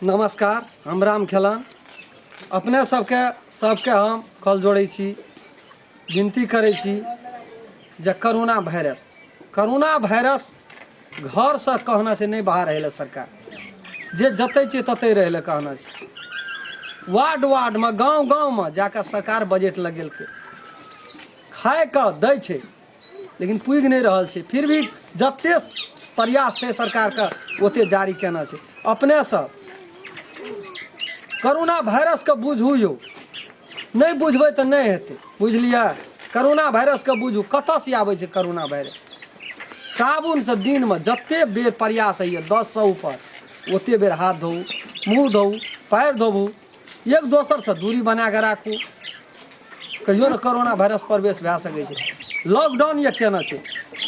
नमस्कार हम राम खेलान अपने सबके सबके हम कल जोड़ै छी विनती करै छी जे करोना वायरस करोना वायरस घरसँ कहना छै नहि बाहर रहै सरकार जे जतै छियै ततै रहै लए कहना छै वार्ड वार्डमे गाँव गाँवमे जाकऽ सरकार बजट लगेलकै खाइके दै छै लेकिन पुगि नहि रहल छै फिर भी जते प्रयास छै सरकारके ओते जारी केना छै अपने सब करोना वायरसके बुझू यौ नहि बुझबै तऽ नहि हेतै बुझलियै करोना वायरसके बुझू कतऽसँ आबै छै करोना वायरस साबुनसँ दिनमे जते बेर प्रयास होइए दससँ ऊपर ओते बेर हाथ धोऊ मुँह धोऊ पैर धोबू एक दोसरसँ दूरी बना कऽ राखू कहियो ने करोना वायरस प्रवेश भए सकै छै लॉकडाउन यए केना छै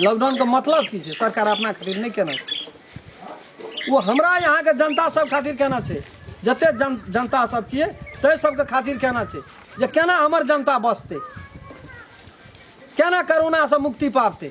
लॉकडाउनके मतलब की छै सरकार अपना खातिर नहि केना छै ओ हमरा यहाँके जनता सब खातिर केना छै जते जन जनता सब छियै ताहि सबके खातिर केना छै जे केना हमर जनता बचतै केना करोनासँ मुक्ति पाबतै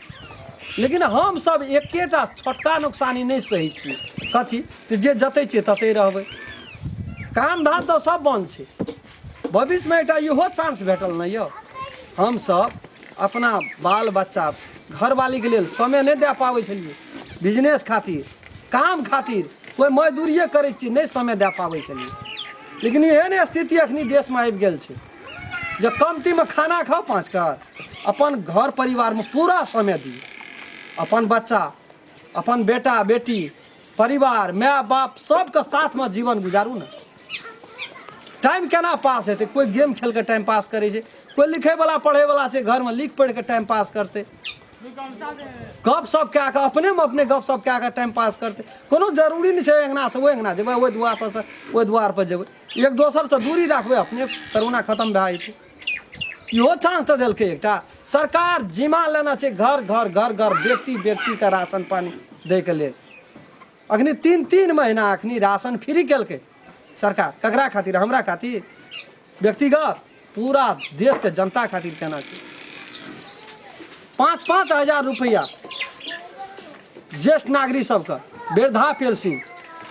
लेकिन हमसभ एकेटा छोटका नुकसानी नहि सही छियै कथी तऽ जे जतै छियै ततै रहबै काम धाम तऽ सब बन्द छै भविष्यमे एकटा इहो चांस भेटल ने यौ हमसभ अपना बाल बच्चा घरवालीके लेल समय नहि दए पाबै छलियै बिजनेस खातिर काम खातिर कोइ मजदूरिए करै छियै नहि समय दए पाबै छलियै लेकिन एहन स्थिति अखनी देशमे आबि गेल छै जे कमतीमे खाना खाउ पाँच कर अपन घर परिवारमे पूरा समय दी अपन बच्चा अपन बेटा बेटी परिवार माय बाप सबके साथमे जीवन गुजारू ने टाइम केना पास हेतै कोइ गेम खेलके टाइम पास करै छै कोइ लिखैवला पढ़ैवला छै घरमे लिख पढ़िके टाइम पास करतै गप सप कए कऽ अपनेमे अपने गप सप कए कऽ टाइम पास करतै कोनो जरूरी नहि छै अङ्गनासँ ओहि अङ्गना जेबै ओहि दुआरपरसँ ओहि दुआरपर जेबै एक दोसरसँ दूरी राखबै अपने करोना खतम भए जेतै इहो चान्स तऽ देलकै एकटा सरकार जिम्मा लेना छै घर घर घर घर व्यक्ति व्यक्तिके राशन पानि दैके लेल अखनी तीन तीन महीना अखनी राशन फ्री केलकै सरकार ककरा खातिर हमरा खातिर व्यक्तिगत पूरा देशके जनता खातिर केना छै पाँच पाँच हजार रुपैआ ज्येष्ठ नागरिक सबके वृद्धा पेंशन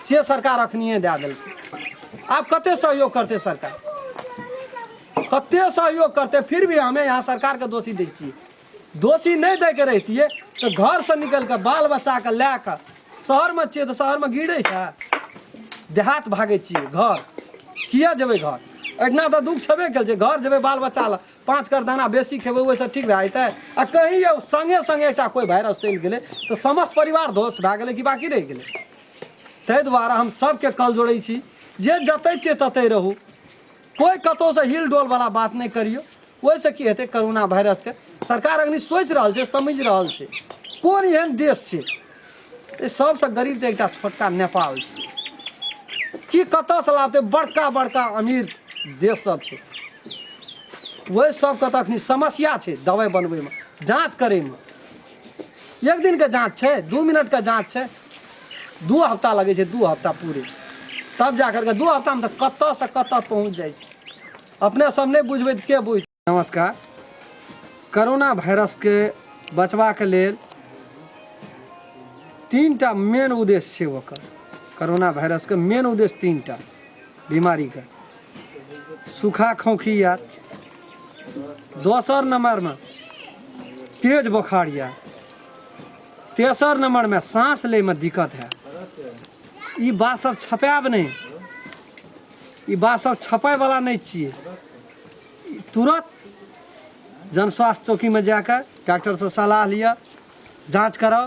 से सरकार अखनिए दए देलकै आब कते सहयोग करतै सरकार कते सहयोग करतै फिर भी हमे यहाँ सरकारके दोषी दै छियै दोषी नहि दैके रहितियै तऽ घरसँ निकलि कऽ बाल बच्चाके लए कऽ शहरमे छियै तऽ शहरमे गिरै छै देहात भागै छियै घर किए जेबै घर एहिठिना तऽ दुःख छेबे कयल छै घर जेबै बाल बच्चा लए पाँच कर दाना बेसी खेबै ओहिसँ ठीक भए जेतै आ कहीं यौ सङ्गे सङ्गे एकटा कोइ वायरस चलि गेलै तऽ समस्त परिवार ध्वस्त भए गेलै कि बाकी रहि गेलै ताहि दुआरे हम सभके कल जोड़ै छी जे जतै छियै ततै रहू कोइ कतहुसँ हिल डोल बला बात नहि करियौ ओहिसँ की हेतै करोना वायरसके सरकार अखनी सोचि रहल छै समझि रहल छै कोन एहन देश छै ई सभसँ गरीब तऽ एकटा छोटका नेपाल छै की कतयसँ लाबतै बड़का बड़का अमीर देश सब छै ओहि सबके तऽ अखनी समस्या छै दवाइ बनबैमे जाँच करैमे एक दिन के जाँच छै दू मिनट के जाँच छै दू हफ्ता लगै छै दू हफ्ता पूरे तब जा करके दू हफ्तामे तऽ कतऽसँ कतऽ पहुँच जाइ छै अपने सब नहि बुझबै तऽ के बुझ नमस्कार करोना वायरसके बचबाक लेल तीन टा मेन उद्देश्य छै ओकर करोना वायरसके मेन उद्देश्य तीन टा बीमारीके सूखा खोखी यऽ दोसर नंबरमे तेज बोखार यऽ तेसर नंबरमे साँस लैमे दिक्कत है ई बात सब छपायब नहि ई बात सब छपाय वाला नहि छियै ई तुरत जनस्वास्थ्य चौकीमे जाके डॉक्टरसँ सलाह लिअ जाँच कराउ